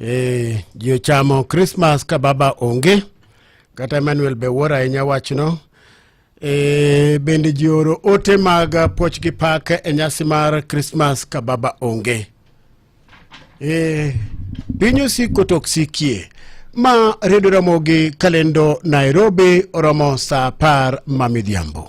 Eh, ji ochamo Christmas ka baba onge kata Emmanuel be wuoro ahinya wachno. E, bende ji oro ote mag puoch gi pak e nyasi mar Christmas ka baba onge. E, piny osiko to ok sikie ma redio ramogi kalendo Nairobi oromo saa apar ma midhiambo.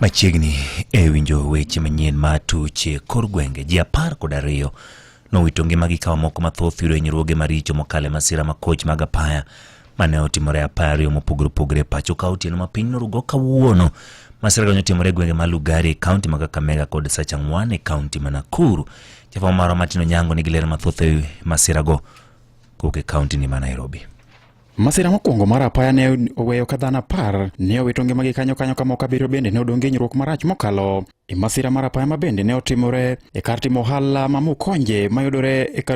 Machiegni e winjo weche manyien ma tuche kor gwenge ji apar kod ariyo nowito ngimagi ka moko mathoth yudo hinyruoge maricho mokalo e masira ma koch mag apaya mane otimore apaya ariyo mopogore opogore e pacho ka otieno ma piny norugo kawuono. Masira kanyo otimore e gwenge ma Lugari e kaunti ma Kakamega kod Sachang'wan e kaunti ma Nakuru. Jafwambo marwa Martin Onyango nigi ler mathoth e wi masirago kowuok e kaunti ni ma Nairobi. Masira mokwongo mar apaya ne oweyo ka dhano apar ne owito ngimagi kanyo kanyo ka moko abiriyo bende ne odong' genyruok marach mokalo e masira mar apaya ma bende ne otimore e kar timo ohala ma Mukonje mayudore e kar